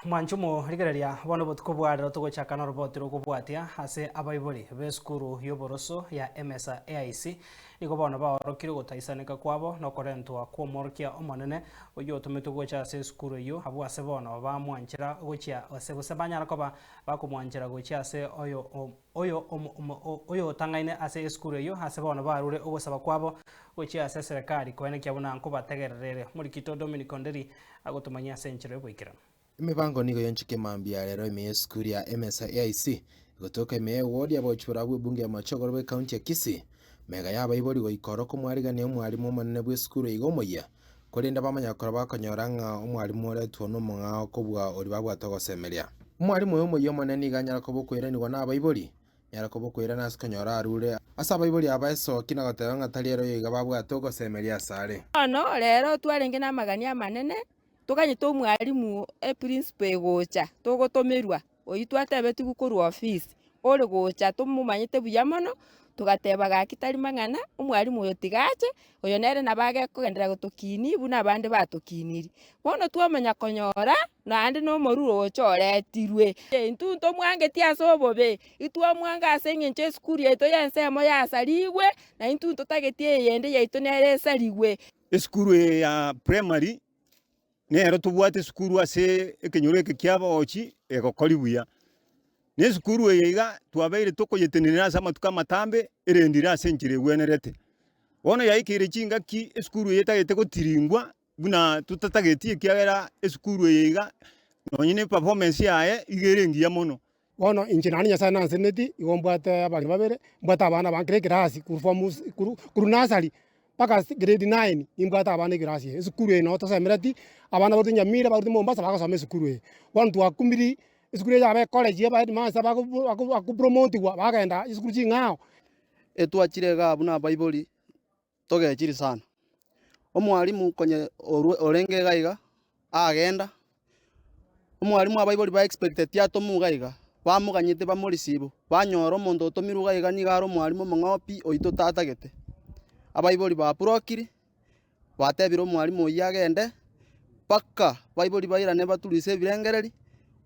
Mwanche omorigereria, bono obotuko bwa rero togochaka noroboti rw'okobwatia ase abaibori b'esukuru y'oboroso ya Emesa AIC. Nigo bono baorokire ogotaisaneka kwabo nokorentwa kw'omworokia omonene oyio otometwe gocha ase esukuru eyio, abwo ase bono bamwanchera gochia ase gose banyara koba bakomwanchera gochia ase oyo oyo omo omo o oyotangaine ase esukuru eyio ase bono barure ogosaba kwabo gochia ase eserekari koenekia buna nkobategererere Morikito Dominic Onderi agotomanyia ase enchero y'oboikeranu. Emebango nigo yonchike mambia arero ime y'esukuru ya Emesa AIC egotoka ime y'ewodi abochi barabwo bw'ebunge ya Machogoro bw'ekaunti ya Kisii. Mega y'abaibori goika oro komwariganire omwarimu omonene bw'esukuru iga omoyia, korende bamanye gokora bakonyora ng'a omwalimu oretwo nomong'ao kobua oria babwate ogosemeria. Omwalimu oyo omoyio Omonene nigo anyare koba okoiranigwa nabaibori, nyare koba okoirana ase konyora arure ase abaibori aba esooki na goteba ng'a tari ere oyo iga babwate ogosemeria asare. Bono rero twarenge namagania amanene, toganyete omwalimu eprinciple egocha, togotomerwa. Oyio twatebetigwe korwa ofisi ore gocha tomomanyete buya mono, togateba gaki tari mang'ana, omwalimu oyo tiga ache, oyo nere nabo agekogenderera gotokinia buna abande batokinirie. Bono twamanya konyora naende na omoruru ogocha oretirwe. Intwe ntomwangetie ase obobe, itwamwanga ase eng'encho esukuru yaito y'ensemo yasarigwe, na intwe ntotagetie eyende yaito nere esarigwe. Esukuru eye ya primary. Nero tobwate esukuru ase ekenyoro eke ki'abagochi egokori buya. Na esukuru eye iga twabeire tokoyetenenera ase amatuko amatambe erende ire ase enchera egwenerete. Bono yaikeire chingaki esukuru eye etagete gotiringwa buna totatageti ekiagera esukuru eye iga nonye ne performance yaye iga ere engiya mono. Bono inche naende Nyasae nanseneti, igo mbwate abana babere, mbwate abana abange kera ekerasi korwa form si korwa korwa nursery mpaka si grade nine, nimbwate abana ekerasi eye, esukuru eye nabo tosemereti, abana abaruete Nyamira, abaruete Mombasa bagosoma esukuru eye. Bono twakumiri, esukuru eye yaba ecollege ya abaheadmaster bago bago bakopromotiwa bagenda chisukuru ching'ao. Etwachire igaa buna abaibori. togechiri sana. Omwalimu konye orwe orenge iga iga agenda, omwalimu abaibori ba expecteti atomwa iga iga, bamoganyete bamo receive, banyora omonto otomirwe iga iga niga are omwalimu omong'opi oyio totatagete. Abaibori ba brokiri, batebire omwalimu oyio agende, mpaka baibori bairane baturuse ebirengereri,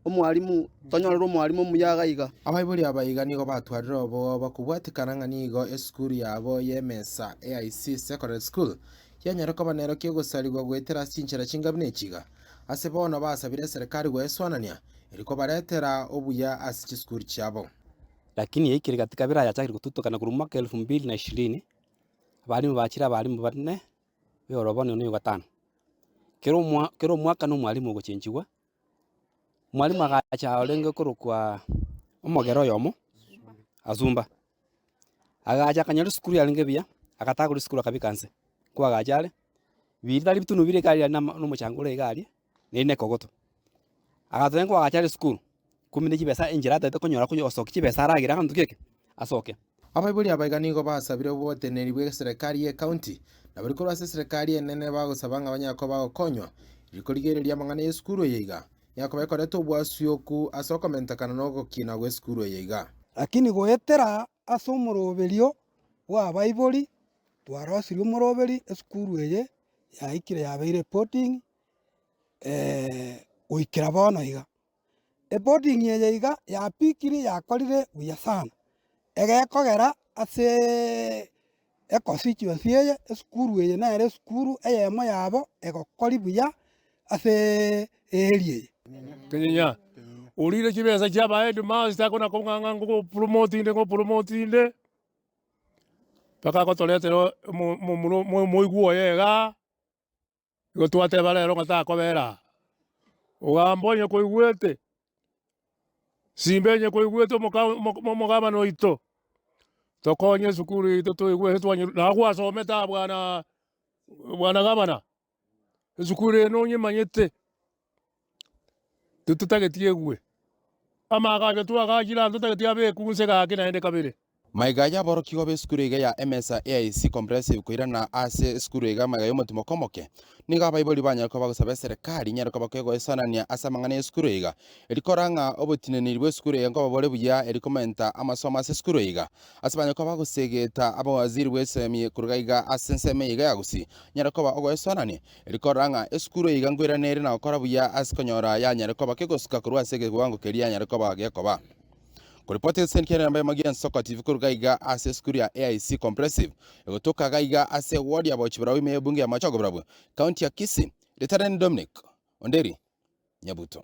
Omwalimu, tonyorerwe omwalimu omuya iga aiga. Abaibori aba iga nigo batwarire obooba kobwatikana ng'a nigo esukuru yabo y'emesa, AIC Secondary School, yanyare koba nero ki'ogosarigwa goetera ase chinchera chingabi ne chiga. Ase bono basabire eserekari goeswanania, eri kobaretera obuya ase chisukuru chiabo. Lakini yaikire gati kabira yachakire gotutokana korwa omwaka elfu mbili na ishirini, abalimu bachire abalimu bane b'eorobani one yogatano. Kera omwa kera omwaka nomwalimu ogochenchigwa, Mwalimu agacha orenge korokwa omogera oyomo asumba. Agacha akanyora esukuru yarenge buya, agataka korwa esukuru akabeka inse. Ko agacha are, ritari bitunu bire iga aria na omochango ore iga aria, ne rinde ekogoto. Agatogia ko agacha are esukuru, Kumina chibesa enchera ataete konyora konya ogosokia chibesa aragere aganto geke asoke. Abaibori aba iga nigo basabire oboteneneri bw'eserikari y'ecounty, na bari korwa ase eserikari enene bagosaba ng'a banyare koba bagokonywa, eri korigereria amang'ana y'esukuru eye iga enyare koba ekoreta obwasuyoku ase okomentekana na ogokina gw'esukuru eye iga. Lakini goetera ase omoroberio bw'abaibori twarosirie omoroberi esukuru eye yaikire yabeire reporting goikera bono iga. Eboding eye iga yapikire yakorire buya sana, egekogera aseeee econstituency eye, esukuru eye nere esukuru eyemo yabo egokori buya aseeee earea eye. Kenyinya, orire chibesa chia aba headmaster akona kong'ang'a ngo promote inde ngo promote inde, mpaka agotoretera omo- omo- omoro- omoigwa oye igaa. Igo twateba rero ng'a takobera aa. Ogamba onye koigwete, simba enye koigwete omogabana oito, tokonye esukuru yaito toigwe ase twanyire, naye gwasomete aa bwana gabana, esukuru eye nonyemanyete. Totageti egue. Amaaga aria twagachire aa ntotageti abekwe gunse gake naende kabere. Maiga y'aborokigwa b'esukuru iga ya Emesa EIC Comprehensive koirana ase esukuru iga maiga y'omotima okomoke. Nigo abaibori banyare koba bagosaba eserekari inyare koba kegoesanania ase amang'ana y'esukuru iga, eri kora ng'a obotineniri bw'esukuru iga nkoba bore buya, eri komenta amasomo ase esukuru iga. Ase banyare koba bagosegeta abawaziri bw'esemi koruga iga ase ensemo eye iga ya gusii, nyare koba ogoesanania. Rikorora ng'a esukuru iga nkweranere na gokora buya ase konyora yanyare koba kegosuka korwa ase egewango keria yanyare koba gekoba. Koripoti egeseni kiane nambaimo gi'ensoko TV korwa gaiga ase esukuru ya AIC Comprehensive egotoka gaiga ase ewodi ya Bauchi Barau ime y'ebunge ya Machogo Barabwo, County ya Kisii, Ritareni Dominic Onderi Nyabuto.